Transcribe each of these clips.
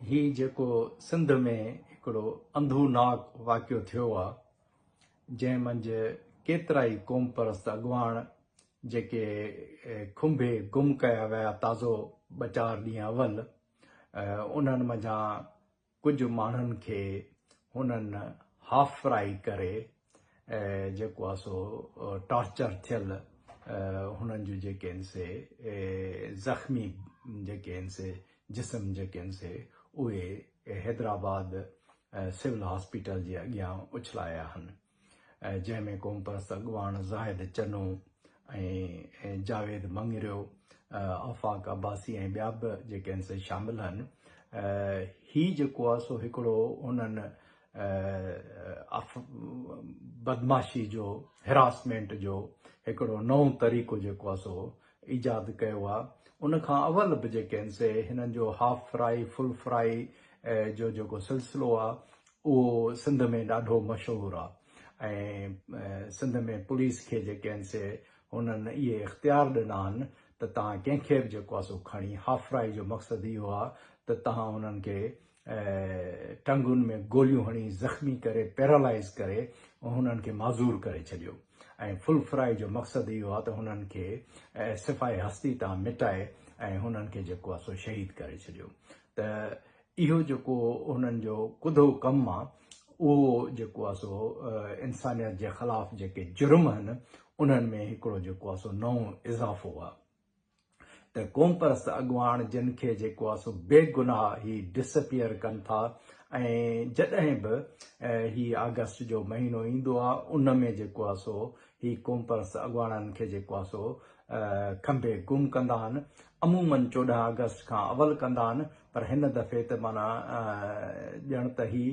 هي جيڪو سنڌ ۾ هڪڙو انڌو ناڪ واقعو ٿيو آ جنهن منجهه ڪيترائي قوم پرست اڳواڻ جيڪي کنڀي گم ڪيا ويا تازو ٻه چار ڏينهن اول انهن منجهان ڪجهه ماڻهن کي هنن هافرائي ڪري جيڪو آهي سو ٽارچر ٿيل هنن جون جيڪي آهن سي زخمي جيڪي آهن سي جسم جيڪي آهن سي اهي حيدرآباد سول هاسپيٽل جي اڳيان اڇلايا آهن. جنهن ۾ قومپرست اڳواڻ زاهد چنو ۽ جاويد مڱريو، آفاق عباسي ۽ ٻيا به جيڪي آهن سي شامل آهن. هي جيڪو آهي سو هڪڙو انهن بدمعاشي جو Harassment جو هڪڙو نئون طريقو جيڪو آهي سو ايجاد ڪيو آهي. ان کان اول به جيڪي آهن سي هنن جو Half Fry Full Fry جو جيڪو سلسلو آهي اهو سنڌ ۾ ڏاڍو مشهور آ ۽ سنڌ ۾ پوليس کي جيڪي آهن سي هنن اهي اختيار ڏنا آهن ته تهان ڪنهن کي به جيڪو آ سو کڻي هافرائي جو مقصد اهو آ ته تهان انهن کي ٽنگن ۾ گوليون هڻي زخمي ڪري پيرالائز ڪري هنن کي معذور ڪري ڇڏيو ۽ فل فرائي جو مقصد اهو آ ته هنن کي صفائي هستي تان مٽائي ۽ هنن کي جيڪو آ سو شهيد ڪري ڇڏيو ته اهو جيڪو هنن جو ڪڌو ڪم آ اهو جيڪو آ سو انسانيت جي خلاف جيڪي جرم هن انهن ۾ هڪڙو جيڪو آ سو نئون اضافو آ ته قومپرست اڳواڻ جن کي جيڪو آ سو بي گناهه هي ڊسپيئر ڪن ٿا ۽ جڏهن به هي آگسٽ جو مهينو ايندو آ ان ۾ جيڪو آ سو هي قومپرست اڳواڻن کي جيڪو آ سو کنڀي گم ڪندا آهن عمومن چوڏهن آگسٽ کان اول ڪندا آهن پر هن دفعي ته معنيٰ ڄڻ ته هي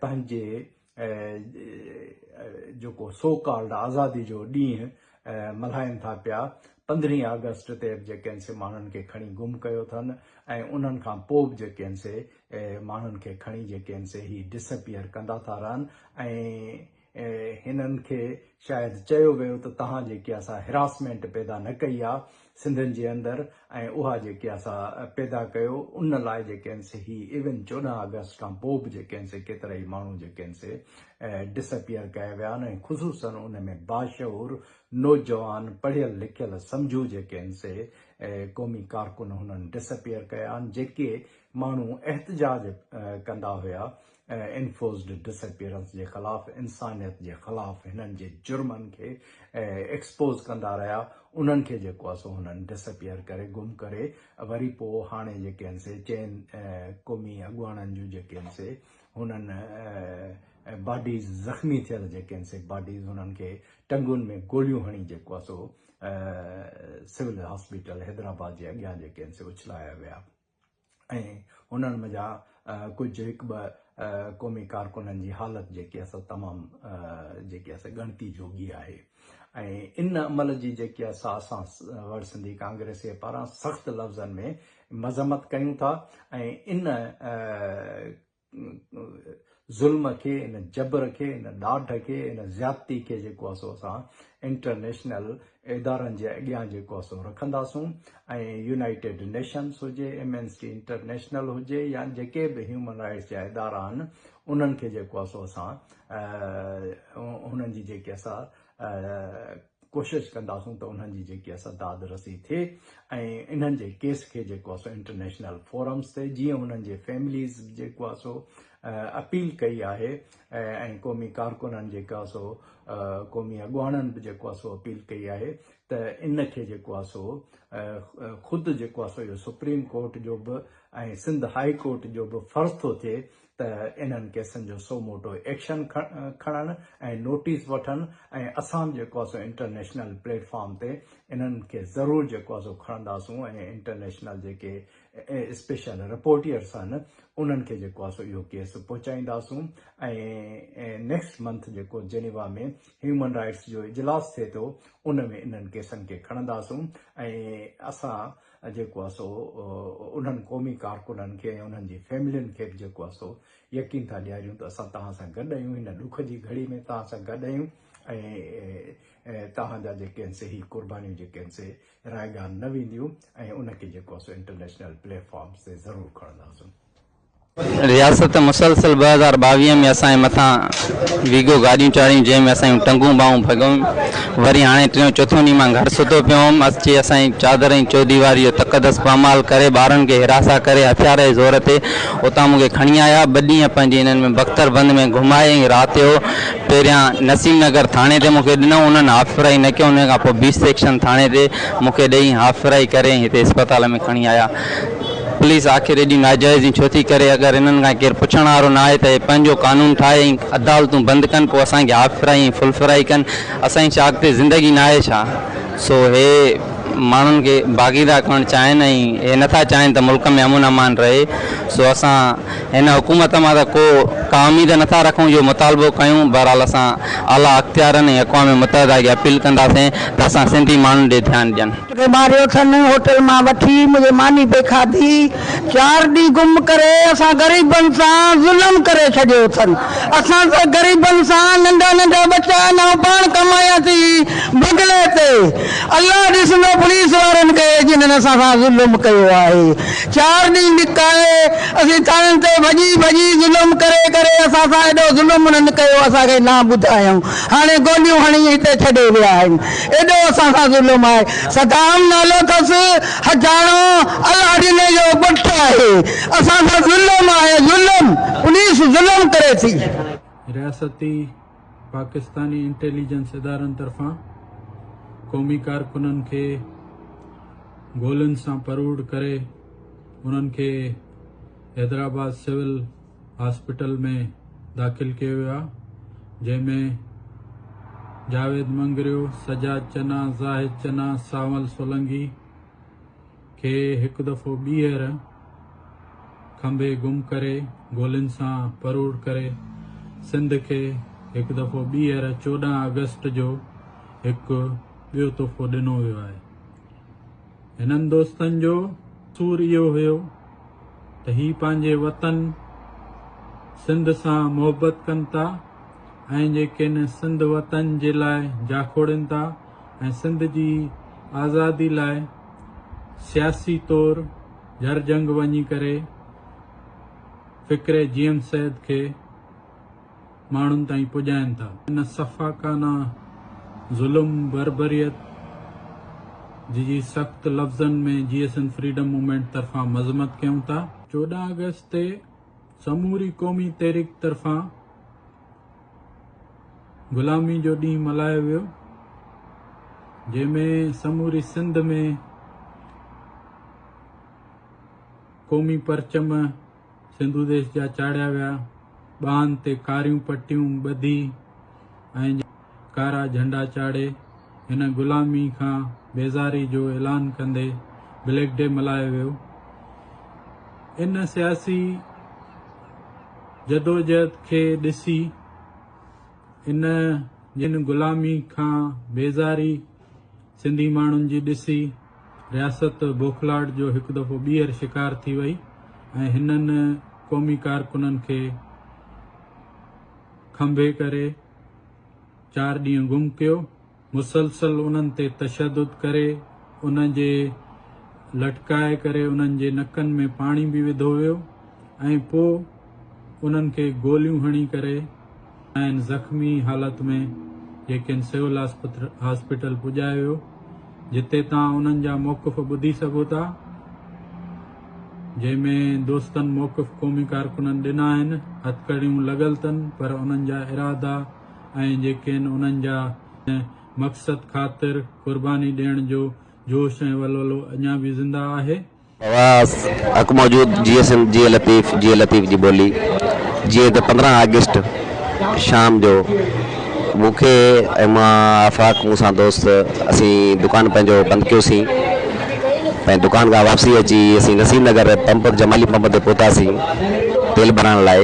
پنهنجي جيڪو سو ڪالڊ آزادي جو ڏينهن ملهائين ٿا پيا، پندرهين آگسٽ تي به جيڪي هن سي ماڻهن کي کڻي گم ڪيو اٿن ۽ انهن کان پوء به جيڪي هن سي ماڻهن کي کڻي جيڪي هن سي هي ڊسپيئر ڪندا ٿا رهن ۽ هنن کي شايد چيو ويو ته توهان جيڪي اسان هراسمينٽ پيدا نه ڪئي آ سنڌين جي اندر ۽ اها جيڪي اسان پيدا ڪيو ان لاء جيڪي هن سي هي ايون چوڏهن آگسٽ کان پوء به جيڪي هن سي ڪيترا ئي ماڻهو جيڪي هن سي ڊس اپيئر ڪيا ويا آهن ۽ خصوصن ان ۾ باشعور نوجوان پڙهيل لکيل سمجهو جيڪي هن سي قومي ڪارڪن هنن ڊس اپيئر ڪيا آهن جيڪي ماڻهو احتجاج ڪندا هيا انفورسڊ ڊس اپيئرنس جي خلاف انسانيت جي خلاف هنن جي جرمن کي ايڪسپوز ڪندا رهيا انهن کي جيڪو آهي سو هنن ڊس اپيئر ڪري گم ڪري وري پو هاڻي جيڪي آهن سي چئن قومي اڳواڻن جون جيڪي آهن سي هنن باڊيز زخمي ٿيل جيڪي آهن سي باڊيز هنن کي ٽنگون ۾ گوليون هڻي جيڪو آهي سو سول هاسپيٽل حيدرآباد جي اڳيان جيڪي آهن سي اڇلايا ويا ۽ انهن منجها ڪجهه هڪ ٻه قومي ڪارڪنن جي حالت جيڪي اصل تمام جيڪي اصل ڳڻتي جوڳي آهي ۽ ان عمل جي جيڪي اصا اسان وڙ سنڌي ڪانگريسي پاران سخت لفظن ۾ مذمت ڪيون ٿا ۽ ان ظلم کي، ان جبر کي، ان ڏاڍ کي، ان زيادتي کي جيڪو آهي سو اسان انٽرنيشنل ادارن جي اڳيان جيڪو آهي سو رکنداسون ۽ يونائيٽيڊ نيشنس هجي، ايمنسٽي انٽرنيشنل هجي يا جيڪي به هيومن رائٽس جا ادارا آهن انهن کي جيڪو آهي سو اسان انهن جي جيڪي اسان ڪوشش ڪنداسون ته انهن جي جيڪي اسان داد رسي ٿئي ۽ انهن جي ڪيس کي جيڪو اسو انٽرنيشنل فورمز تي جيئن انهن جي فيمليز جيڪو اسو اپيل ڪئي آهي ۽ قومي ڪارڪنن جيڪو اسو قومي اڳواڻن به جيڪو اسو اپيل ڪئي آهي ته ان کي جيڪو اسو خود جيڪو اسو اهو سپريم ڪورٽ جو به ۽ سنڌ هائي ڪورٽ جو به فرض ٿو ٿئي ته انهن ڪيسن جو سو موٽو ايڪشن کڻن ۽ نوٽيس وٺن ۽ اسان به جيڪو آسو انٽرنيشنل پليٽ فارم تي انهن کي ضرور جيڪو آسو کڻنداسون ۽ انٽرنيشنل جيڪي اسپيشل رپورٽيئرس آهن انهن کي جيڪو آسو اهو ڪيس پهچائينداسون ۽ نيڪسٽ منٿ جيڪو جنيوا ۾ هيومن رائيٽس جو اجلاس ٿئي ٿو ان ۾ انهن ڪيسن کي کڻنداسون ۽ اسان جيڪو آ سو انهن قومي ڪارڪنن کي ۽ انهن جي فيملين کي به جيڪو آ سو يقين ٿا ڏياريون ته اسان توهان سان گڏ آهيون، هن ڏک جي گهڙي ۾ توهان سان گڏ آهيون ۽ توهان جا جيڪي آهن سي هي قربانيون جيڪي آهن سي رائگان نه وينديون ۽ ان کي جيڪو آ سو انٽرنيشنل پليٽ فارمز تي ضرور کڻنداسون. رياست مسلسل ٻه هزار ٻاويهه ۾ اسان جي مٿان ويگو گاڏيون چاڙهيون جنهن ۾ اسان جون ٽنگون ٻانهون ڀڳيون وري هاڻي ٽيون چوٿون ڏينهن مان گهر ستو پيو هئم اچي اسان جي چادر ۽ چوديواري جو تقدس پامال ڪري ٻارن کي حراسان ڪري هٿيار جي زور تي اتان مون کي کڻي آيا ٻه ڏينهن پنهنجي انهن ۾ بختر بند ۾ گهمائي ۽ رات جو پهريان نسيم نگر ٿاڻي تي مون کي ڏنو انهن هافرائي نه ڪيو انهن کان پوء بي سيڪشن ٿاڻي تي مون کي ڏئي هافرائي ڪري ۽ هتي اسپتال ۾ کڻي آيا پوليس آخر ايڏي ناجائزيون ڇو ٿي ڪري؟ اگر هنن کان ڪير پڇڻ وارو ناهي ته هي پنهنجو قانون ٺاهي ۽ عدالتون بند ڪن پوء اسان کي هاف فرائي ۽ فل فرائي ڪن اسان جي ڇا اڳتي زندگي ناهي ڇا؟ سو هي ماڻهن کي باغي ٿا ڪرڻ چاهين ۽ هي نٿا چاهين ته ملڪ ۾ امن امان رهي سو اسان هن حڪومت مان ته ڪو ڪا اميد نٿا رکون جو مطالبو ڪيون بهرحال اسان اعليٰ اختيارن ۽ اقوام متحده کي اپيل ڪنداسين ته اسان سنڌي ماڻهن ڏي ڌيان ڏين. کي ماريو ٿن هوٽل مان وٺي منهنجي ماني به کاڌي چار ڏينهن گم ڪري اسان غريبن سان ظلم ڪري ڇڏيو ٿن اسان سان غريبن سان ننڍا ننڍا ٻچا نئون پاڻ ڪمايا ٿي بگلي تي الله ڏسندو پوليس وارن کي جنھن اسان سان ظلم ڪيو آهي چار ڏينهن لڪائي اسين ٿاڻن تي ڀڄي ڀڄي ظلم ڪري ڪري اسان سان ايڏو ظلم انھن ڪيو اسان کي نه ٻڌايائون هاڻي گوليون هڻي هتي ڇڏي ويا آهن ايڏو اسان سان ظلم آهي. صدام نالو ٿس حجاڻو الاڙيني جو ڳوٺ آهي اسان سان ظلم آهي ظلم پوليس ظلم ڪري ٿي. رياستي پاڪستاني انٽيليجنس ادارن طرفان قومي ڪارڪنن کي گولين سان پروڙ ڪري انهن کي حيدرآباد سول هاسپيٽل ۾ داخل ڪيو ويو آهي جنهن ۾ جاويد مڱريو، سجاد چنا، زاهد چنا، سانول سولنگي کي هڪ دفعو ٻيهر کنڀي گم ڪري گولين سان پروڙ ڪري سنڌ کي هڪ دفعو ٻيهر چوڏهن آگسٽ جو هڪ ٻيو تحفو ڏنو ويو آهي. هنن دوستن جو قصور اهو هيو ته هي پنهنجي وطن سنڌ سان محبت ڪن ٿا ۽ جي ڪن سنڌ وطن جي لاء جاکوڙين ٿا ۽ سنڌ جي آزادي لاء سياسي طور جهرجهنگ وڃي ڪري فڪري جيئن سيد کي ماڻهن تائين پڄائين ٿا. ان سفاڪانه ظلم، بربريت جي جي سخت لفظن ۾ J S N freedom movement طرفان مذمت ڪيون ٿا. چوڏهن آگسٽ تي سموري قومي تحريڪ طرفان غلامي جو ڏينهن ملهايو ويو جنهن ۾ سموري سنڌ ۾ قومي پرچم، سنڌو ديس جا چاڙهيا ويا، ٻانهن تي ڪاريون پٽيون ٻڌي ۽ ڪارا جهنڊا چاڙهي هن غلامي کان بيزاري جو اعلان ڪندي بليڪ ڊي ملهايو ويو. ان سياسي جدوجهد کي ڏسي ان جن غلامي کان بيزاري سنڌي ماڻهن جي ڏسي رياست بوکلاهٽ جو هڪ دفعو ٻيهر شڪار ٿي وئي ۽ هنن قومي ڪارڪنن کي کنڀي ڪري چار ڏينهن گم ڪيو، مسلسل انهن تي تشدد ڪري انهن جي لٽڪائي ڪري انهن جي نڪن ۾ پاڻي به وڌو ويو ۽ پوء انهن کي گوليون هڻي ڪري کانئن زخمي حالت ۾ جي کين سول هاسپيٽل پڄايو ويو جتي تان انهن جا موقف ٻڌي سگهو ٿا جنهن ۾ دوستن موقف قومي ڪارڪنن ڏنا آهن هٿڪڙيون لڳل تن پر انهن جا ارادا ۽ جي کين انهن جا مقصد خاطر قرباني ڏيڻ جو جوش ۽ ولولو اڃا به زنده آهي. حواس، حق موجود جيئي سنڌ جيئي لطيف جيئي لطيف جي ٻولي جيئي ته پندرهن آگسٽ شام جو مون کي ۽ مان آفاق مون سان دوست اسين دڪان پنهنجو بند ڪيو سين ۽ دڪان کان واپسي اچي اسين نصير نگر پمپ جمالي پمپ تي پهتا سين تيل ڀرائڻ لاء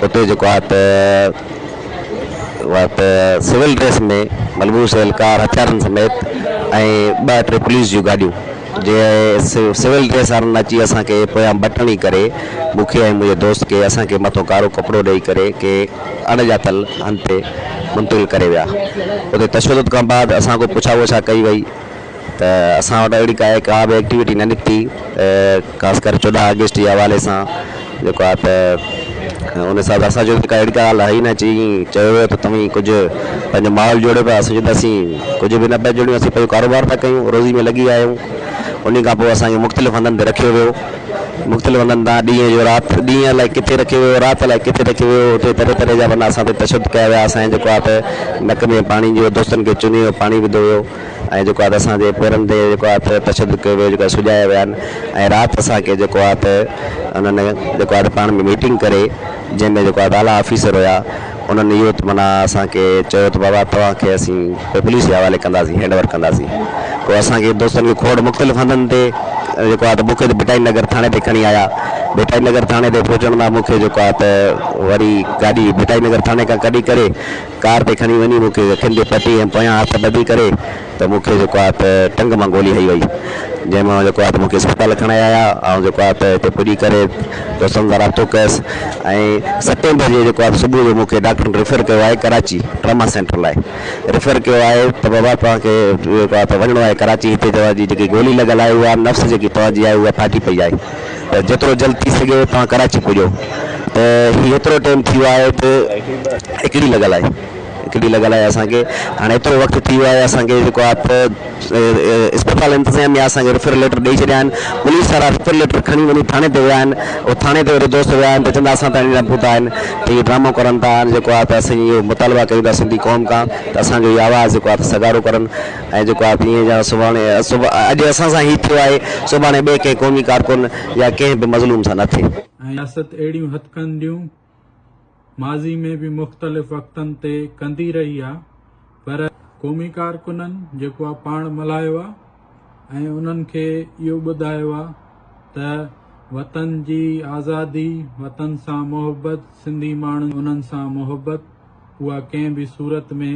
اتي جيڪو آهي ته وقت سول ڊريس ۾ ملبوس اهلڪار هٿيارن سميت ۽ ٻه ٽي پوليس جون گاڏيون جي سول ڊريس وارن اچي اسان کي پويان بٽڻي ڪري مون کي ۽ منهنجي دوست کي اسان کي مٿو ڪارو ڪپڙو ڏئي ڪري ڪي اڻ ڄاتل هنڌ تي منتقل ڪري ويا اتي تشدد کان بعد اسان کان پڇا وڇا ڪئي وئي ته اسان وٽ اهڙي ڪا به ايڪٽيوٽي نه نڪتي خاص ڪري چوڏهن آگسٽ جي حوالي سان جيڪو آهي ته ان حساب سان اسان چيو ته ڪا اهڙي ڪا ڳالهه آهي ئي نه جي ائين چيو ويو ته توهين ڪجهه پنهنجو ماحول جوڙيو پيا اسان چيو ته اسين ڪجهه به نه پيا جوڙيون اسين پنهنجو ڪاروبار پيا ڪيون روزي ۾ لڳي آهيون انهي کان پوء اسان کي مختلف هنڌن تي رکيو ويو مختلف هنڌن تان ڏينهن جو رات ڏينهن الائي ڪٿي رکيو ويو رات الائي ڪٿي رکيو ويو اتي طرح طرح جا معنيٰ اسان تي تشدد ڪيا ويا اسان جي جيڪو آهي ته نڪ ۾ پاڻي جو دوستن کي چني جو پاڻي وڌو ويو ۽ جيڪو آهي ته اسان جي پيرن تي جيڪو آهي ته تشدد ڪيو ويو جيڪو سجايا ويا آهن ۽ رات اسان کي جيڪو آهي ته انهن جيڪو آهي ته پاڻ ۾ ميٽنگ ڪري جنهن ۾ جيڪو آهي ته اعليٰ آفيسر هيا انهن اهو ته معنيٰ اسان کي چيو ته بابا توهان کي اسين پوء پوليس جي حوالي ڪنداسين هينڊ اوور ڪنداسين پوء اسان کي دوستن کي کوڙ مختلف هنڌن تي جيڪو آهي ته مون کي ته ڀٽائي نگر ٿاڻي تي کڻي آيا ڀٽائي نگر ٿاڻي تي پهچڻ مان مون کي جيڪو آهي ته وري گاڏي ڀٽائي نگر ٿاڻي کان ڪڍي ڪري ڪار تي کڻي وڃي مون کي اکين تي پٽي ۽ پويان هٿ ٻڌي ڪري ته مون کي جيڪو آهي ته ٽنگ مان گولي هنئي وئي جنهن مان جيڪو آهي ته مون کي اسپتال کڻائي آيا آئون جيڪو آهي ته هتي پڄي ڪري دوستن سان رابطو ڪيس ۽ ستين بجي جيڪو آهي صبح جو مون کي ڊاڪٽرن ريفر ڪيو آهي ڪراچي ٽراما سينٽر لاء ريفر ڪيو آهي ته بابا توهان کي جيڪو آهي ته وڃڻو آهي ڪراچي هتي توهان جي جيڪي گولي لڳل آهي اها نفس جيڪي توهان جي آهي اها ڦاٽي پئي آهي ته جيترو جلد ٿي سگهي توهان ڪراچي پڄو ته هي هيترو ٽيم ٿي ويو آهي ته هڪڙي لڳل آهي هڪڙي لڳل آهي اسان کي هاڻي هيترو وقت ٿي ويو آهي اسان کي جيڪو آهي ته اسپتال انتظام يا اسان کي ريفر ليٽر ڏئي ڇڏيا آهن پوليس وارا ريفر ليٽر کڻي وڃي ٿاڻي تي ويا آهن او ٿاڻي تي وري دوست ويا آهن ته چوندا اسان ته اڃان پهتا آهن ته هي ڊرامو ڪرن ٿا جيڪو آهي ته اسان اهو مطالبا ڪيون ٿا سنڌي قوم کان ته اسان جو هي آواز جيڪو آهي ته سگهارو ڪرن ۽ جيڪو آء پينهن جا سڀاڻي اڄ اسان سان هي ٿيو آهي، سڀاڻي ٻئي ڪنهن قومي ڪارڪن يا ڪنهن به مظلوم سان نه ٿئي. رياست اهڙيون هٿڪنڊيون ماضي ۾ به مختلف وقتن تي ڪندي رهي آهي پر قومي ڪارڪنن جيڪو آء پاڻ ملهايو آهي ۽ انهن کي اهو ٻڌايو آهي ته وطن جي آزادي، وطن سان محبت، سنڌي ماڻهن انهن سان محبت اها ڪنهن به صورت ۾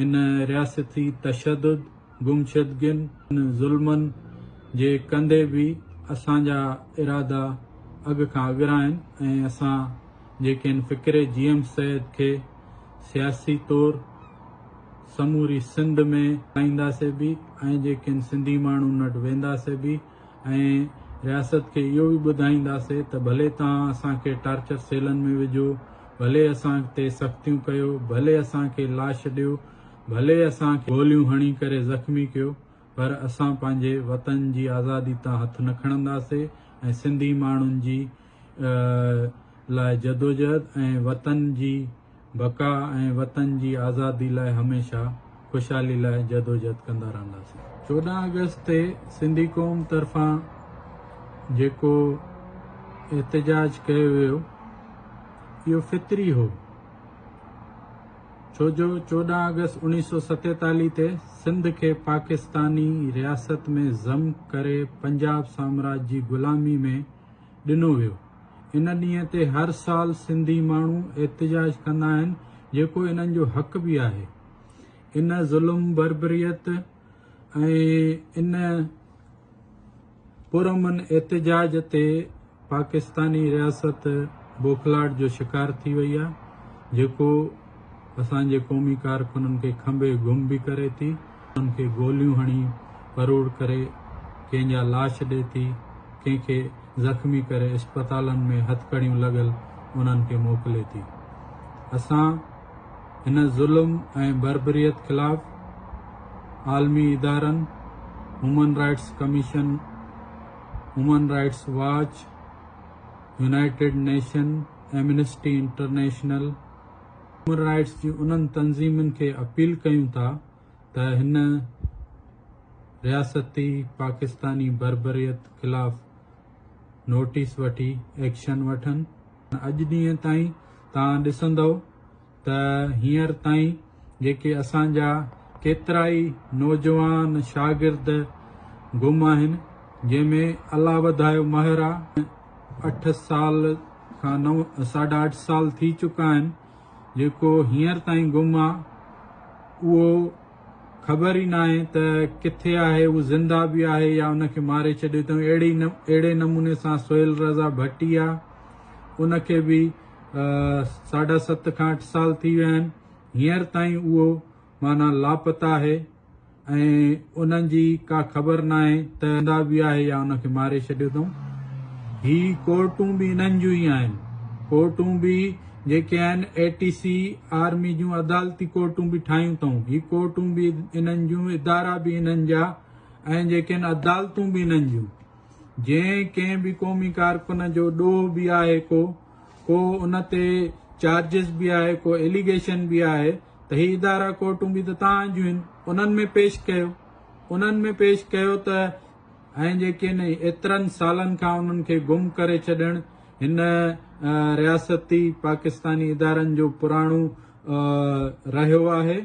ان رياستي تشدد، گمشدگين ۽ ظلمن جي ڪندي به اسان جا ارادا اڳ کان اڳرا آهن ۽ اسان جي ڪين فڪري جي ايم سيد کي سياسي طور سموري سنڌ ۾ هلائينداسين به ۽ جي ڪين سنڌي ماڻهن وٽ وينداسين به. ۽ رياست کي اهو به ٻڌائينداسي ته ڀلي توهان اسان کي ٽارچر سيلن ۾ وجهو، ڀلي اسان تي سختيون ڪيو، ڀلي اسان کي لاش ڏيو، ڀلي اسان کي گوليون هڻي ڪري زخمي ڪيو پر اسان پنهنجي وطن جي آزادي تان هٿ نه کڻنداسي ۽ سنڌي ماڻهن جي لاء جدوجهد ۽ وطن جي بقا ۽ وطن جي آزادي لاء هميشه خوشحالي لاء جدوجھد ڪندا رهنداسين. چوڏهن آگسٽ تي سنڌي قوم طرفان جيڪو احتجاج ڪيو ويو اهو فطري هو ڇو جو چوڏهن آگسٽ اوڻيھ سؤ ستيتاليھ تي سنڌ کي پاڪستاني رياست ۾ ضم ڪري پنجاب سامراج جي غلامي ۾ ڏنو ويو. ان ڏينهن تي هر سال سنڌي ماڻهو احتجاج ڪندا آهن جيڪو انهن جو حق به آهي. ان ظلم بربريت ۽ ان پرامن احتجاج تي پاڪستاني رياست بوکلاٽ جو شڪار ٿي وئي آهي جيڪو اسان جي قومي ڪارڪنن کي کنڀي گم به ڪري ٿي. انهن کي گوليون هڻي پروڙ ڪري ڪنهن جا لاش ڏئي ٿي، ڪنهن کي زخمي ڪري اسپتالن ۾ هٿڪڙيون لڳل انهن کي موڪلي ٿي. اسان هن ظلم ۽ بربريت خلاف عالمي ادارن، human rights commission, human rights watch, united nation, amnesty international, human rights جي انهن تنظيمن کي اپيل ڪيون ٿا ته هن رياستي پاڪستاني بربريت خلاف نوٽيس وٺي ايڪشن وٺن. اڄ ڏينهن تائين توهان ڏسندؤ ته هينئر تائين جيڪي اسان جا ڪيترائي نوجوان شاگرد گم آهن جنهن ۾ الله وڌايو مهر آ. اٺ سال کان نو ساڍا اٺ سال ٿي چڪا آهن جيڪو هينئر تائين گم آ اهو خبر ئي ناهي ته ڪٿي آهي هو زنده به آهي يا ان کي ماري ڇڏيو اٿئون اهڙي اهڙي نموني سان سهيل رضا ڀٽيا ان کي به ساڍا ست کان اٺ سال ٿي ويا آهن هينئر تائين اهو معنيٰ لاپتا آهي ۽ انهن جي ڪا خبر ناهي ته زنده به آهي يا ان کي ماري ڇڏيو اٿئون. هي ڪورٽون به انهن جون ئي آهن. ڪورٽون به جيڪي آهن اي ٽي سي آرمي جون عدالتي ڪورٽون به ٺاهيون اٿئون. هي ڪورٽون به انهن جون، ادارا به انهن جا ۽ جيڪي آهن عدالتون به انهن جون. جي ڪنهن به قومي ڪارڪن جو ڏوهه به آهي ڪو، ڪو ان تي چارجز به آهي، ڪو ايليگيشن به آهي، ته هي ادارا ڪورٽون به ته توهان جون آهن انهن ۾ پيش ڪيو انهن ۾ پيش ڪيو ته ۽ جيڪي ان ايترن سالن کان انهن کي گم ڪري ڇڏڻ هن رياستي پاڪستاني ادارن جو پراڻو رهيو آهي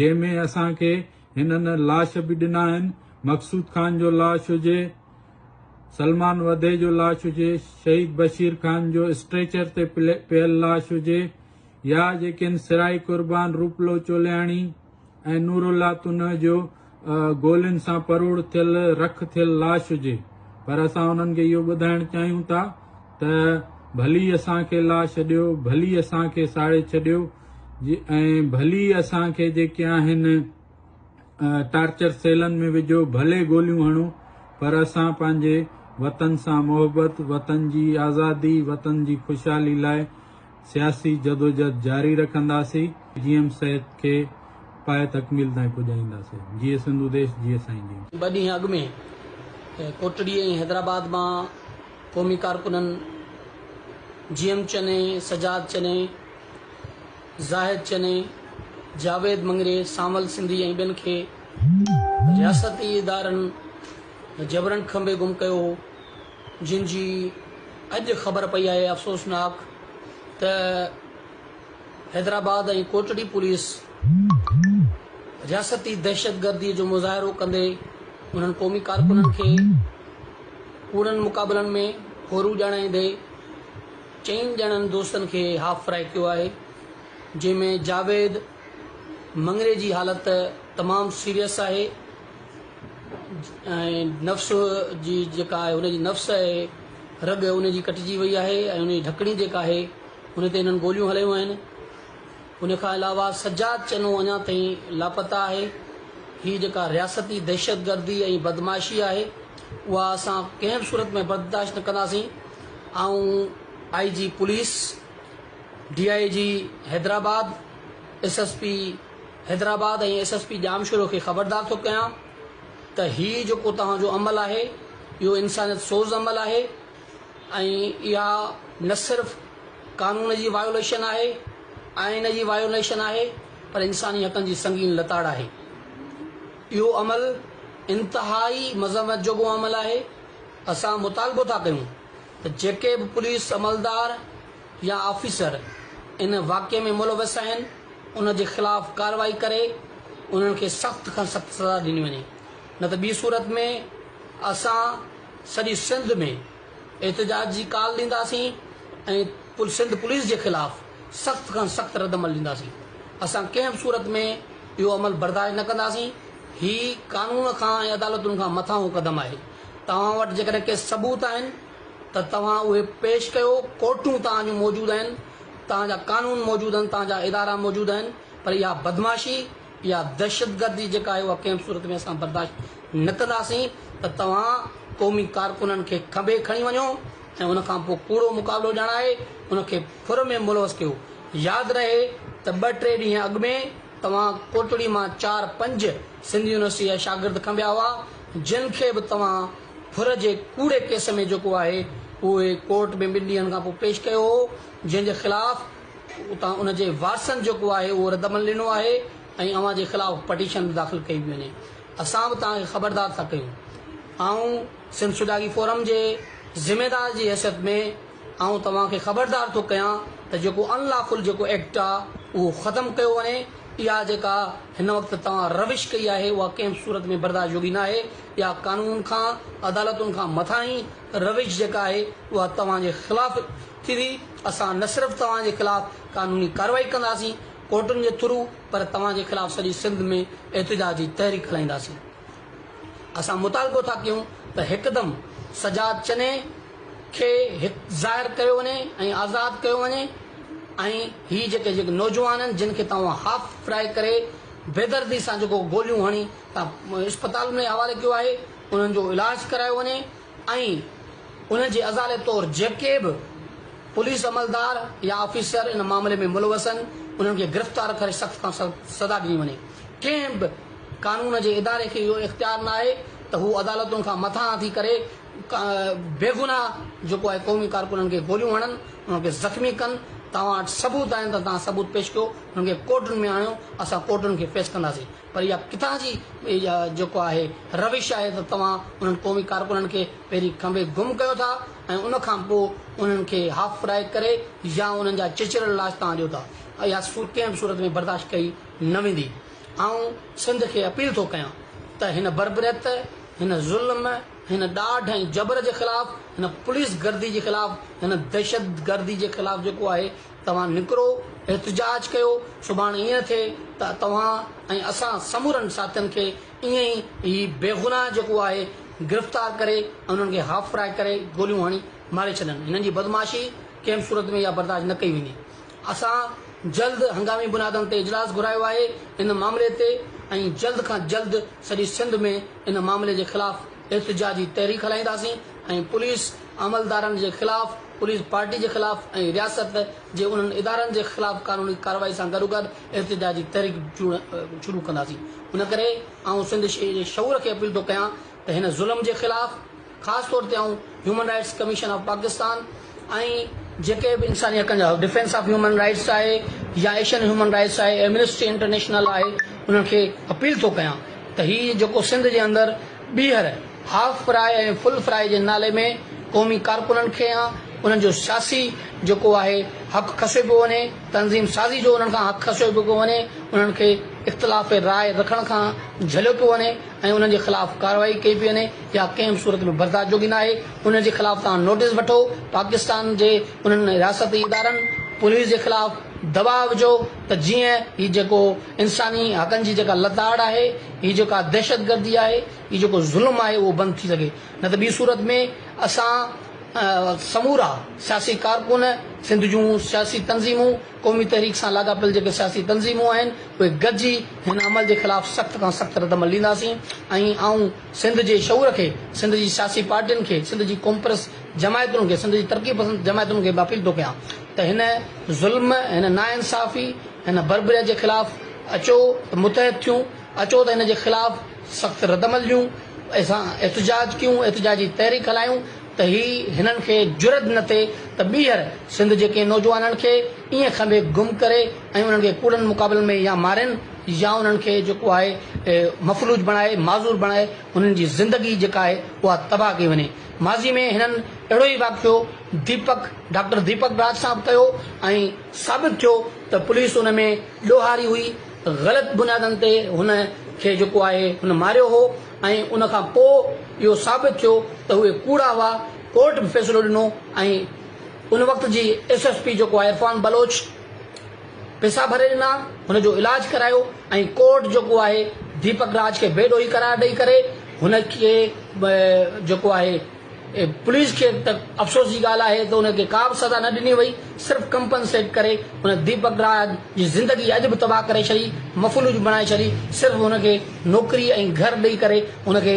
جنهن ۾ اسان کي هنن لاش به ڏنا آهن مقصود خان جو لاش هجي سلمان وڌي جو لاش هجي شهيد بشير خان جو اسٽريچر تي پيل لاش هجي يا جيڪن سرائي قربان، روپلو چولياڻي ۽ نورالله تنهه جو گولين سان پروڙ ٿيل رک ٿيل لاش هجي پر اسان انهن کي اهو ٻڌائڻ چاهيون ٿا ته ڀلي اسان کي لاء ڇڏيو، ڀلي اسان کي ساڙي ڇڏيو ۽ ڀلي اسان کي جيڪي آهن. ٽارچر سيلن ۾ وجهو ڀلي گوليون هڻو پر اسان پنهنجي وطن سان محبت وطن جي آزادي وطن جي خوشحالي لاء سياسي جدوجھد جاري رکنداسين جي ايم سيد کي پايه تڪميل تائين پڄائينداسين جيئي سنڌو ديش جيئي سائين جي. ٻه ڏينهن اڳ ۾ ڪوٽڙي ۽ حيدرآباد مان قومي ڪارڪنن جي ايم چني، سجاد چني، زاهد چني، جاويد مڱري، سانول سنڌي ۽ ٻين کي رياستي ادارن جبرن کنڀي گم ڪيو هو، جن جي اڄ خبر پئي آهي، افسوسناڪ ته حيدرآباد ۽ ڪوٽڙي پوليس رياستي دهشتگردي جو مظاهرو ڪندي انهن قومي ڪارڪنن کي ڪوڙن مقابلن ۾ ڦورون ڄاڻائيندي چئن ڄڻن دوستن کي هاف فرائي ڪيو آهي جنهن ۾ جاويد مڱري جي حالت تمام سيريس آهي ۽ نفس جي جيڪا آهي هن جي نفس آهي رڳ ان جي ڪٽجي وئي آهي ۽ ان جي ڍڪڻي جيڪا آهي ان تي هنن گوليون هلايون آهن ان کان علاوه سجاد چنو اڃا تائين لاپتا آهي، هي جيڪا رياستي دهشتگردي ۽ بدمعاشي آهي اها اسان ڪنهن به صورت ۾ برداشت نه ڪنداسين، آئون I G police, D I G Hyderabad, S S P Hyderabad ۽ S S P Jamshoro کي خبردار ٿو ڪيان ته هي جيڪو توهان جو عمل آهي اهو انسانيت سوز عمل آهي ۽ اها نه صرف قانون جي وايوليشن آهي، آئين جي وايوليشن آهي پر انساني حقن جي سنگين لتاڙ آهي. اهو عمل انتهائي مذمت جوڳو عمل آهي. اسان مطالبو ٿا ڪيون ته جيڪي به پوليس عملدار يا آفيسر ان واقعي ۾ ملوث آهن ان جي خلاف ڪارروائي ڪري انهن کي سخت کان سخت سزا ڏني وڃي نه ته ٻي صورت ۾ اسان سڄي سنڌ ۾ احتجاج جي ڪال ڏينداسين ۽ سنڌ پوليس جي خلاف سخت کان سخت ردعمل ڏينداسين، اسان ڪنهن به صورت ۾ اهو عمل برداشت نه ڪنداسين، هي قانون کان ۽ عدالتن کان مٿانهون قدم آهي، توهان وٽ جيڪڏهن ڪي ثبوت آهن ته توهان اهي پيش ڪيو، ڪورٽون توهان جون موجود آهن، توهان جا قانون موجود آهن، توهان جا ادارا موجود آهن پر اها بدمعاشي اها دهشتگردي جيڪا آهي اها ڪنهن به صورت ۾ اسان برداشت نه ڪنداسين ته توهان قومي ڪارڪنن کي کنڀي کڻي وڃو ۽ ان کان پوء ڪوڙو مقابلو ڄاڻائي ان کي ڦر ۾ ملوث ڪيو ياد رهي ته ٻه ٽي ڏينهن اڳ ۾ توهان ڪوٽڙي مان چار پنج سنڌ يونيورسٽي جا شاگرد کنڀيا هئا جن کي به توهان ڦر جي ڪوڙي ڪيس ۾ جيڪو آهي اهي ڪورٽ ۾ ٻن ڏينهن کان پوء پيش ڪيو هو جنهن جي خلاف اتان ان جي وارثن جيڪو آهي اهو ردعمل ڏنو آهي ۽ اوهان جي خلاف پٽيشن به داخل ڪئي پئي وڃي اسان به توهان کي خبردار ٿا ڪيون آئون سنڌ سجاڳي فورم جي ذميدار جي حيثيت ۾ آئون توهان کي خبردار ٿو ڪيان ته جيڪو ان لا فل جيڪو ايڪٽ آهي اهو ختم ڪيو وڃي اها جيڪا هن وقت توهان روش ڪئي آهي اها ڪنهن به صورت ۾ برداشت جوڳي ناهي اها قانون کان عدالتن کان مٿاهين روش جيڪا آهي اها توهان جي خلاف ٿيندي، اسان نه صرف توهان جي خلاف قانوني ڪارروائي ڪنداسين ڪورٽن جي ٿرو پر توهان جي خلاف سڄي سنڌ ۾ احتجاج جي تحريڪ هلائينداسين، اسان مطالبو ٿا ڪيون ته هڪدم سجاد چني کي هت ظاهر ڪيو وڃي ۽ آزاد ڪيو وڃي ۽ هي جيڪي جيڪي نوجوان آهن جن کي توهان هاف فرائي ڪري بيدردي سان جيڪو گوليون هڻي تان اسپتال ۾ حوالي ڪيو آهي انهن جو علاج ڪرايو وڃي. ۽ ان جي ازالي طور جيڪي به پوليس عملدار يا آفيسر ان معاملي ۾ ملوث آهن انهن کي گرفتار ڪري سخت کان سخت سزا ڏني وڃي ڪنهن به قانون جي اداري کي اهو اختيار ناهي ته هو عدالتن کان مٿانهان ٿي ڪري بيگناهه جيڪو آهي قومي ڪارڪنن کي گوليون هڻن انهن کي زخمي ڪن توهان وٽ ثبوت آهن ته توهان ثبوت پيش ڪيو انهن کي ڪورٽن ۾ آڻيو اسان ڪورٽن کي فيس ڪنداسين. پر اها ڪٿان جي جيڪو آهي روش آهي ته توهان انهن قومي ڪارڪنن کي پهرين کنڀي گم ڪيو ٿا ۽ ان کان پوء انهن کي هاف فرائي ڪري يا انهن جا چچريل لاش توهان ڏيو ٿا. اها سوچ ڪنهن به صورت ۾ برداشت ڪئي نه ويندي. آئون سنڌ کي اپيل ٿو ڪيان ته هن بربريت، هن ظلم، هن ڏاڍ ۽ جبر جي خلاف، هن پوليس گردي جي خلاف، هن دهشت گردي جي خلاف جيڪو آهي توهان نڪرو، احتجاج ڪيو، سڀاڻ ائين ٿئي ته توهان ۽ اسان سمورن ساٿين کي ائين ئي هي بيگناهه جيڪو آهي گرفتار ڪري ۽ انهن کي هاف فرائي ڪري گوليون هڻي ماري ڇڏن. هنن جي بدمعاشي ڪنهن به صورت ۾ اها برداشت نه ڪئي ويندي. اسان جلد هنگامي بنيادن تي اجلاس گهرايو آهي ان معاملي تي ۽ جلد کان جلد سڄي سنڌ ۾ ان معاملي جي خلاف احتجاجي تحريڪ هلائينداسين ۽ پوليس عملدارن جي خلاف، پوليس پارٽي جي خلاف ۽ رياست جي انهن ادارن جي خلاف قانوني ڪارروائي سان گڏوگڏ احتجاجي تحريڪ شروع ڪنداسين. ان ڪري آئون سنڌ جي شعور کي اپيل ٿو ڪيان ته هن ظلم جي خلاف، خاص طور تي آئون human rights commission of Pakistan ۽ جيڪي به انساني حقن جا ڊفينس آف هيومن رائٽس آهي يا ايشين هيومن رائٽس آهي ايمنسٽي انٽرنيشنل آهي انهن کي اپيل ٿو ڪيان ته هي جيڪو سنڌ جي اندر ٻيهر هاف فراء ۽ فل فراء جي نالي ۾ قومي ڪارڪنن کي يا انهن جو سياسي جيڪو آهي حق کسيو پيو وڃي تنظيم سازي جو انهن کان حق کسيو پيو وڃي انهن کي اختلاف راء رکڻ کان جهليو پيو وڃي ۽ انهن جي خلاف ڪارروائي ڪئي پيئي وڃي يا ڪنهن به صورت ۾ برداشت جوڳي ناهي، انهن جي خلاف توهان نوٽيس وٺو، پاڪستان جي انهن رياستي ادارن، پوليس جي خلاف دٻاء وجهو ته جيئن هي جيڪو انساني حقن جي جيڪا لتاڙ آهي، هي جيڪا دهشتگردي آهي، هي جيڪو ظلم آهي اهو بند ٿي سگهي، نه ته ٻي صورت ۾ اسان سمورا سياسي ڪارڪن، سنڌ جون سياسي تنظيمون، قومي تحريڪ سان لاڳاپيل جيڪي سياسي تنظيمون آهن اهي گڏجي هن عمل جي خلاف سخت کان سخت ردعمل ڏينداسين ۽ آئون سنڌ جي شعور کي، سنڌ جي سياسي پارٽين کي، سنڌ جي قومپرست جماعتن کي، سنڌ جي ترقي پسند جماعتن کي به اپيل ٿو ڪيان ته هن ظلم، هن ناانصافي، هن بربريت جي خلاف اچو ته متحد ٿيون، اچو ته هن جي خلاف سخت ردعمل ڏيون، اسان احتجاج ڪيون، احتجاجي تحريڪ هلايون ته هي هنن کي جرئت نه ٿئي ته ٻيهر سنڌ جي ڪنهن نوجوانن کي ائين کنڀي گم ڪري، ۽ انهن کي ڪوڙن مقابلن ۾ يا مارين يا انهن کي جيڪو آهي مفلوج بڻائي معذور بڻائي انهن جي زندگي جيڪا آهي اها تباهه ڪئي وڃي ماضي ۾ هنن اهڙو ئي واقعو ديپڪ ڊاڪٽر ديپڪ راج سان به ڪيو ۽ ثابت ٿيو ته پوليس ان ۾ ڏوهاري هئي غلط بنيادن تي هن کي جيڪو آهي هن ماريو هو ۽ ان کان پوء اهو ثابت ٿيو ته اهي ڪوڙا هئا ڪورٽ به فيصلو ڏنو ۽ ان وقت جي ايس ايس پي جيڪو آهي عرفان بلوچ پئسا ڀري ڏنا، هن جو علاج ڪرايو ۽ ڪورٽ جيڪو آهي ديپڪ راج کي بي ڏوهي قرار ڏئي ڪري هن کي جيڪو آهي پوليس کي ته افسوس جي ڳالهه آهي ته ان کي ڪا به سزا نه ڏني وئي صرف ڪمپنسيٽ ڪري هن ديپڪ راج جي زندگي اڄ به تباهه ڪري ڇڏي مفلوج بڻائي ڇڏي صرف هن کي نوڪري ۽ گهر ڏئي ڪري هن کي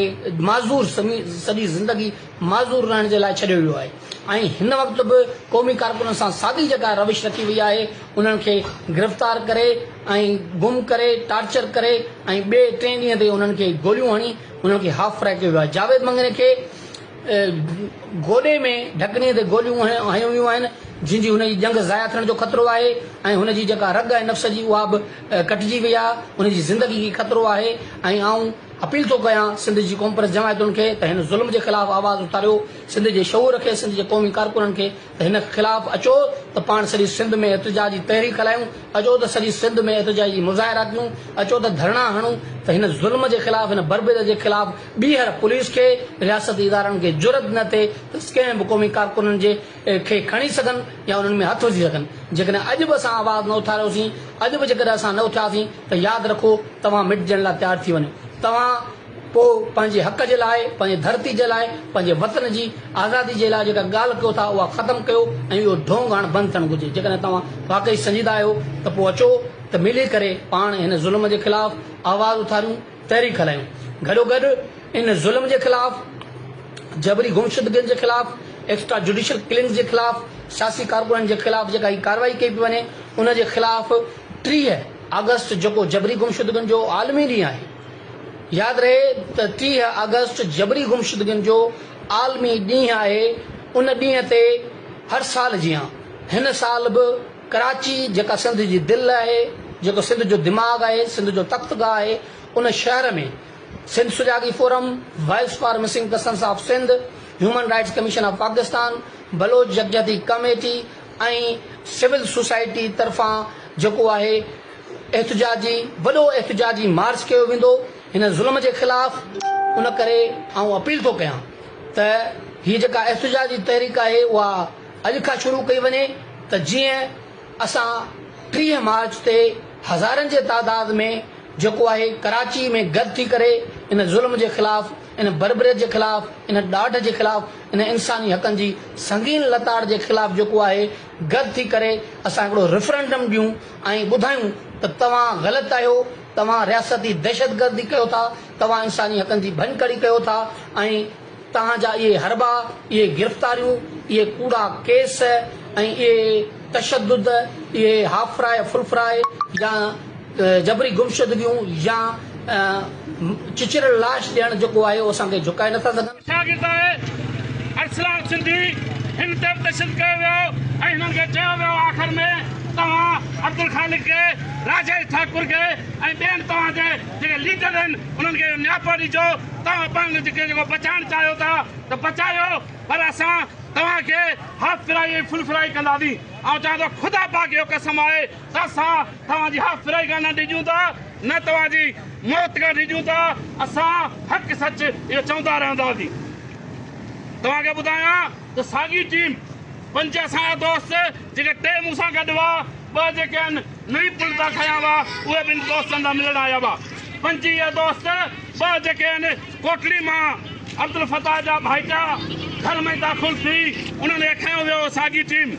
معذور سمي سڄي زندگي معذور رهڻ جي لاء ڇڏيو ويو آهي. ۽ هن وقت به قومي ڪارڪنن سان ساڳي جيڪا روش رکي وئي آهي انهن کي گرفتار ڪري ۽ گم ڪري ٽارچر ڪري ۽ ٻئي ٽئين ڏينهن تي انهن کي گوليون هڻي انهن کي هاف فرائي ڪيو ويو آهي جاويد مڱري کي گوڏي ۾ ڍڪڻي تي گوليون هنيون ويون آهن جن جي هن جي ڄنگهه ضايع ٿيڻ جو خطرو آهي ۽ هن جي جيڪا رڳ آهي نفس جي اها به ڪٽجي وئي آهي هن جي زندگي کي خطرو آهي ۽ آئون اپيل ٿو ڪيان سنڌ جي قومپرست جماعتن کي ته هن ظلم جي خلاف آواز اٿاريو سنڌ جي شعور کي سنڌ جي قومي ڪارڪنن کي ته هن خلاف اچو ته پاڻ سڄي سنڌ ۾ احتجاج جي تحريڪ هلايون اچو ته سڄي سنڌ ۾ احتجاج جي مظاهرا ڪيون اچو ته ڌرڻا هڻون ته هن ظلم جي خلاف هن بربريت جي خلاف ٻيهر پوليس کي رياستي ادارن کي جرئت نه ٿئي ته ڪنهن به قومي ڪارڪنن جي کي کڻي سگهن يا انهن ۾ هٿ وجهي سگهن جيڪڏهن اڄ به اسان آواز نه اٿاريوسين اڄ به جيڪڏهن اسان نه اٿياسين ته ياد رکو توهان مٽجڻ لاء تيار ٿي وڃو توهان پوء پنهنجي حق جي لاء، پنهنجي ڌرتي جي لاء، پنهنجي وطن جي آزادي جي لاء جيڪا ڳالهه ڪيو ٿا اها ختم ڪيو ۽ اهو ڍونگ هاڻ بند ٿيڻ گهرجي. جيڪڏهن توهان واقعي سنجيده آهيو ته پوء اچو ته ملي ڪري پاڻ هن ظلم جي خلاف آواز اٿاريون، تحريڪ هلايون. گڏو گڏ ان ظلم جي خلاف، جبري گمشدگين جي خلاف، ايڪسٽرا جوڊيشل ڪلنگز جي خلاف، سياسي ڪارڪنن جي خلاف جيڪا هي ڪارروائي ڪئي پئي وڃي ان جي خلاف ٽيهه آگسٽ جيڪو جبري گمشدگين جو عالمي ڏينهن آهي، ياد رهي ته ٽيهه آگسٽ جبري گمشدگين جو عالمي ڏينهن آهي، ان ڏينهن تي هر سال جيان هن سال به ڪراچي جيڪا سنڌ جي دل آهي، جيڪو سنڌ جو دماغ آهي، سنڌ جو تخت گاهه آهي، ان شهر ۾ Sindh Sujagi forum, voice for missing persons of Sindh, human rights commission of Pakistan, Baloch Yakjehti committee ۽ civil society طرفان جيڪو آهي، احتجاجي وڏو احتجاجي مارچ ڪيو ويندو هن ظلم جي خلاف ان ڪري آئون اپيل ٿو ڪيان ته هي جيڪا احتجاجي تحريڪ آهي اها اڄ کان شروع ڪئي وڃي ته جيئن اسان ٽيهه مارچ تي هزارن جي تعداد ۾ جيڪو آهي ڪراچي ۾ گڏ ٿي ڪري ان ظلم جي خلاف ان بربريت جي خلاف ان ڏاڍ جي خلاف ان انساني حقن جي سنگين لتاڙ جي خلاف جيڪو آهي گڏ ٿي ڪري اسان هڪڙو ريفرنڊم ڏيون ۽ ٻڌايون ته توهان غلط آهيو، توهان رياستي دهشتگردي ڪيو ٿا، توهان انساني حقن جي ڀڃڪڙي ڪيو ٿا ۽ توهان جا اهي حربا، اهي گرفتاريون، اهي ڪوڙا ڪيس ۽ اهي تشدد، اهي هاف فرائي، فل فرائي يا جبري گمشدگيون يا چچريل لاش ڏيڻ جيڪو آهي اهو اسان کي جهڪائي نٿا سگهن. شاگرداڻي ارسلان سنڌي هن تي به تشدد ڪيو ويو ۽ هنن کي چيو ويو آخر ۾ توهان عبدالخالق کي، راجيش ٺاڪر کي ۽ ٻين توهان جي جيڪي ليڊر آهن انهن کي اهو نياپو ڏجو توهان پاڻ کي جيڪو بچائڻ چاهيو ٿا ته بچايو پر اسان توهان کي هاف فرائي ۽ فل فرائي ڪنداسين آئون چوان ٿو خدا پاڪ جو قسم آهي اسان توهان جي ها فرائي کان نه ڊڄون ٿا نه توهان جي موت کان ڊڄون ٿا اسان حق سچ اهو چوندا رهنداسين توهان کي ٻڌايان ته ساڳي ٽيم پنج اسان جا دوست جيڪي ٽي مون سان گڏ هئا ٻه جيڪي ان نئين پل تان کنيا هئا اهي ٻن دوستن سان ملڻ آيا هئا پنج اهي دوست ٻه جيڪي ان ڪوٽڙي مان عبدالفتاح جا ڀائيٽا گهر ۾ داخل ٿي انهن کي کنيو ويو ساڳي ٽيم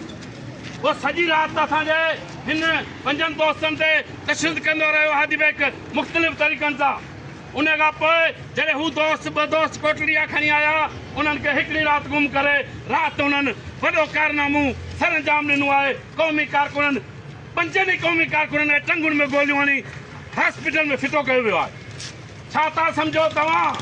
هو سڄي رات اسان جي هن پنجن دوستن تي تشدد ڪندو رهيو هادي بيگ مختلف طريقن سان ان کان پوء جڏهن هو دوست ٻه دوست ڪوٽڙي آ کڻي آيا انهن کي هڪڙي رات گم ڪري رات انهن وڏو ڪارنامو سرانجام ڏنو آهي قومي ڪارڪنن پنجن ئي قومي ڪارڪنن کي ٽنگن ۾ گوليون هڻي هاسپيٽل ۾ ڦٽو ڪيو ويو آهي ڇا ٿا سمجهو توهان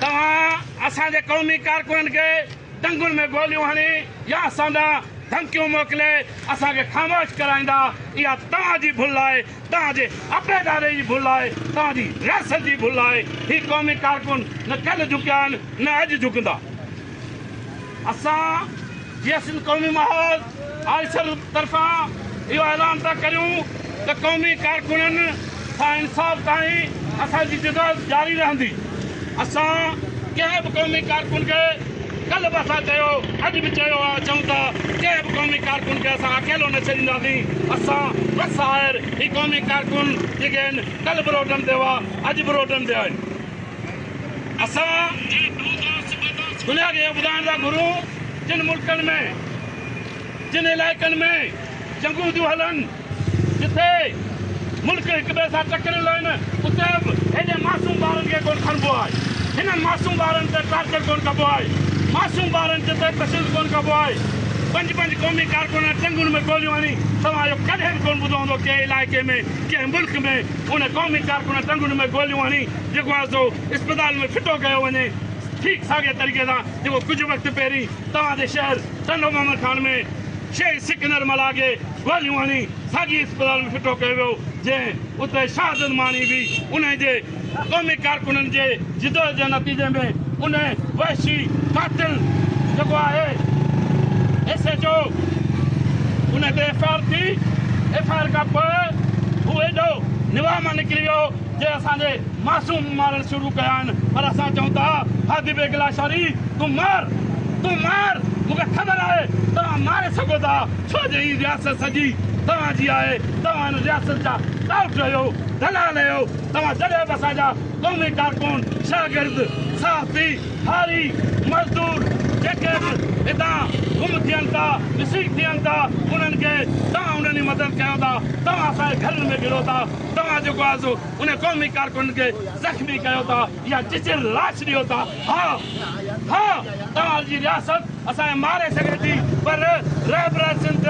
توهان اسان جي قومي ڪارڪنن کي ٽنگن ۾ گوليون هڻي يا اسان ڏانهن ڌمڪيون موڪلي اسان کي خاموش ڪرائيندا، اها توهان جي ڀل آهي، توهان جي عبيداري جي ڀل آهي، توهان جي رياست جي ڀل آهي. هي قومي ڪارڪن نه ڪلهه جهڪيا آهن نه اڄ جهڪندا. اسان جيسين قومي محاذ آفيسر طرفان اهو اعلان ٿا ڪريون ته قومي ڪارڪنن سان انصاف تائين اسان جي جدوجهد جاري رهندي، اسان ڪنهن به قومي ڪارڪن کي ڪلهه به اسان چيو اڄ به چيو آهي چئون ٿا ڪنهن به قومي ڪارڪن کي اسان اڪيلو نه ڇڏينداسين، اسان بس آهر هي قومي ڪارڪن جيڪي آهن ڪلهه به روڊن تي هئا اڄ به روڊن تي آهن. اسان دنيا کي اهو ٻڌائڻ ٿا گهرون جن ملڪن ۾ جن علائقن ۾ جنگون ٿيون هلن جتي ملڪ هڪ ٻئي سان ٽڪريل آهن اتي به هيڏي معصوم ٻارن کي ڪونه کڻبو آهي هنن معصوم ٻارن تي ٽارچر ڪونه ڪبو آهي معصوم ٻارن جتي تشدد ڪونه ڪبو آهي پنج پنج قومي ڪارڪنن جنگن ۾ گوليون هڻي توهان اهو ڪڏهن به ڪونه ٻڌو هوندو ڪنهن علائقي ۾ ڪنهن ملڪ ۾ ان قومي ڪارڪن ٽنگن ۾ گوليون هڻي جيڪو آهي سو اسپتال ۾ ڦٽو ڪيو وڃي ٺيڪ ساڳئي طريقي سان جيڪو ڪجهه وقت پهرين توهان جي شهر ٽنڊو محمد خان ۾ شهيد سڪندر ملاح کي گوليون هڻي ساڳئي اسپتال ۾ ڦٽو ڪيو ويو جنهن اتي شهادت ماڻي هئي انهي جي قومي ڪارڪنن جي جدوجھد جي نتيجي ۾ ان وحشي قاتل جيڪو آهي ايس ايچ او ان تي ايف آء آر ٿي ايف آء آر کان پوء هو ايڏو نواح مان نڪري ويو جي اسان جي معصوم مارڻ شروع ڪيا آهن پر اسان چئون ٿا هادي بيگ لاشاري تون مار تون مار مون کي خبر آهي توهان ماري سگهو ٿا ڇو جو هي رياست سڄي توهان جي آهي توهان هن رياست جا ٽائوٽ آهيو دلال آهيو توهان جڏهن به اسان جا قومي ڪارڪن، شاگرد، صحافي، هاري، مزدور جيڪي به هتان گم ٿين ٿا، مسنگ ٿين ٿا، انهن کي توهان انهن جي مدد ڪيو ٿا، توهان اسان جي گهرن ۾ گهڙو ٿا، توهان جيڪو آهي سو انهن قومي ڪارڪنن کي زخمي ڪيو ٿا يا چچيل لاش ڏيو ٿا، ها ها توهان جي رياست اسان کي ماري سگهي ٿي پر رهبر سنڌ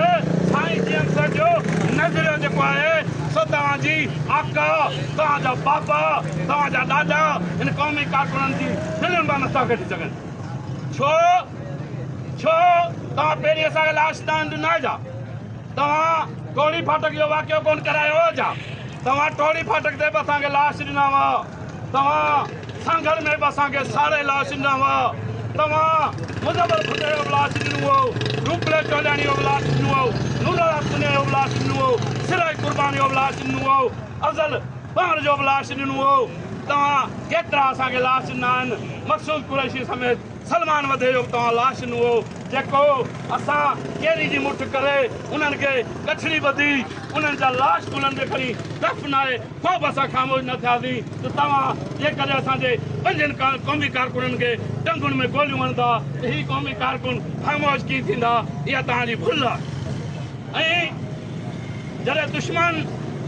سائين جي اڪثر جو نظريو جيڪو آهي سو توهان جي آقا توهان جا بابا توهان جا ڏاڏا هن قومي ڪارڪنن جي دلين مان نٿا ڪڍي سگهن ڇو ڇو توهان پهرين اسان کي لاش دان ڏنا جا توهان ٽوڙي ڦاٽڪ جو واقعو ڪون ڪرايو جا توهان ٽوڙي ڦاٽڪ تي به اسان کي لاش ڏنا هئا توهان سانگهڙ ۾ به اسان کي ساڙي لاش ڏنا هئا، توهان مظفر ڀٽي جو به لاش ڏنو هئو، روپلي ٽولياڻي جو به لاش ڏنو هئو، نورالحق سنيو جو به لاش ڏنو هئو، سرائي قربان جو به لاش ڏنو هئو، افضل پنهر جو به لاش ڏنو هئو، توهان ڪيترا اسان کي لاش ڏنا آهن، مقصود قريشي سميت سلمان وڌي جو به توهان لاش ڏنو هئو، جيڪو اسان ڪيري جي مٺ ڪري انهن کي ڳٺڙي ٻڌي انهن جا لاش ڪلهن تي کڻي دفنائي. ڪو به اسان خاموش نه ٿياسين ته توهان جيڪڏهن اسان جي پنجن قومي ڪارڪنن کي ٽنگن ۾ گوليون هڻندا ته هي قومي ڪارڪن خاموش ڪيئن ٿيندا؟ اها توهان جي ڀل آهي ۽ جڏهن دشمن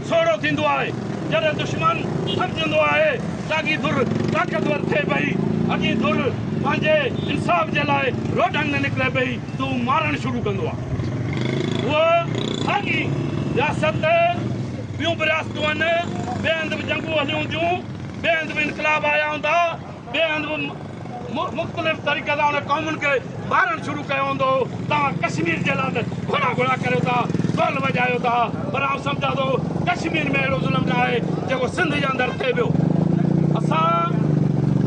سوڙهو ٿيندو آهي، جڏهن دشمن سمجهندو آهي ته اڳي ڌر طاقتور ٿئي پئي، اڳي ڌر پنهنجي انصاف جي لاء روڊن ۾ نڪري پئي ته هو مارڻ شروع ڪندو آهي. اها ساڳي رياست ٻيون به رياستون آهن، ٻئي هنڌ به جنگون هليون هونديون، ٻئي هنڌ به انقلاب آيا هوندا، ٻئي هنڌ به مختلف طريقي سان انهن قومن کي مارڻ شروع ڪيو هوندو، توهان ڪشمير جي لاء ته گهڙا گهڙا ڪريو ٿا، ڍول وڄايو ٿا، پر آئون سمجهان ٿو ڪشمير ۾ اهڙو ظلم نه آهي جيڪو سنڌ جي اندر ٿئي پيو، اسان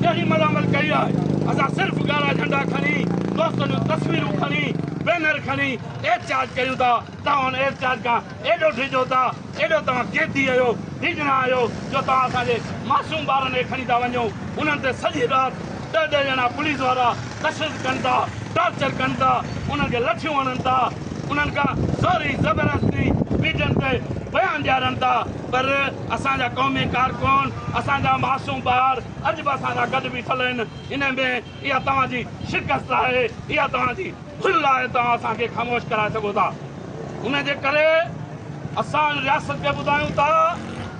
ڪهڙي ملامت ڪئي آهي، اسان صرف ڳاڙها جهنڊا کڻي، دوستن جون تصويرون کڻي، بينر کڻي احتجاج ڪيون ٿا، توهان ان احتجاج کان ايڏو ڊڄو ٿا، ايڏو توهان قيدي اهيو، ڊڄڻا آهيو جو توهان اسان جي معصوم ٻارن کي کڻي ٿا وڃو، انهن تي سڄي رات ڏهه ڏهه ڄڻا پوليس وارا تشدد ڪن ٿا، ٽارچر ڪن ٿا، انهن کي لٺيون هڻن ٿا، انهن کان زوري زبردستي ميڊين تي بيان ڏيارن ٿا، پر اسان جا قومي ڪارڪن، اسان جا معصوم ٻار اڄ به اسان سان گڏ بيٺل آهن، انهي ۾ اها توهان جي شڪست آهي، اها توهان جي ڀل آهي، توهان اسان کي خاموش ڪرائي سگهو ٿا. ان جي ڪري اسان ان رياست کي ٻڌايون ٿا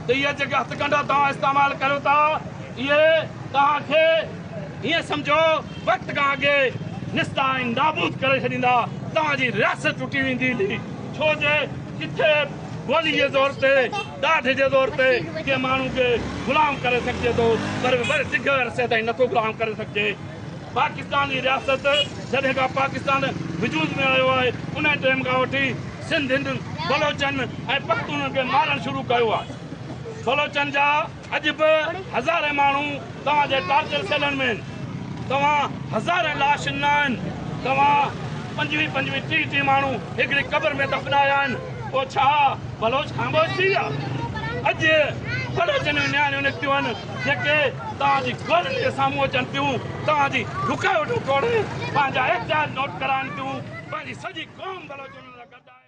ته اهي جيڪي هٿڪنڊا توهان استعمال ڪريو ٿا، اهي توهان کي ائين سمجهو وقت کان اڳي نستا ۽ نابود ڪري ڇڏيندا، توهان جي رياست ٽٽي ويندي، ڇو جو ڪٿي گولي جي زور تي ڏاڍ جي زور تي ڪنهن ماڻهو کي غلام ڪري سگهجي ٿو پر وري ڊگهي عرصي تائين نٿو غلام ڪري سگهجي. پاڪستان جي رياست جڏهن کان پاڪستان وجود ۾ آيو آهي انهي ٽيم کان وٺي سنڌين، بلوچن ۽ پختونن کي مارڻ شروع ڪيو آهي. بلوچن جا. اڄ به هزارين ماڻهو توهان جي ٽارچر سيلن ۾ آهن، توهان هزارين لاشن نه آهن، توهان پنجويهه پنجويهه ٽيهه ٽيهه ماڻهو هڪڙي قبر ۾ دفنايا آهن، پوء ڇا بلوچ خاموش ٿي ويا؟ اڄ پڙهه جنون نياڻيون نڪتيون آهن جيڪي توهان جي گولن جي سامهون اچن ٿيون، توهان جي رڪاوٽون ٽوڙي پنهنجا احتجاج نوٽ ڪرائن ٿيون، پنهنجي سڄي قوم بلوچن لاء گڏ آهي.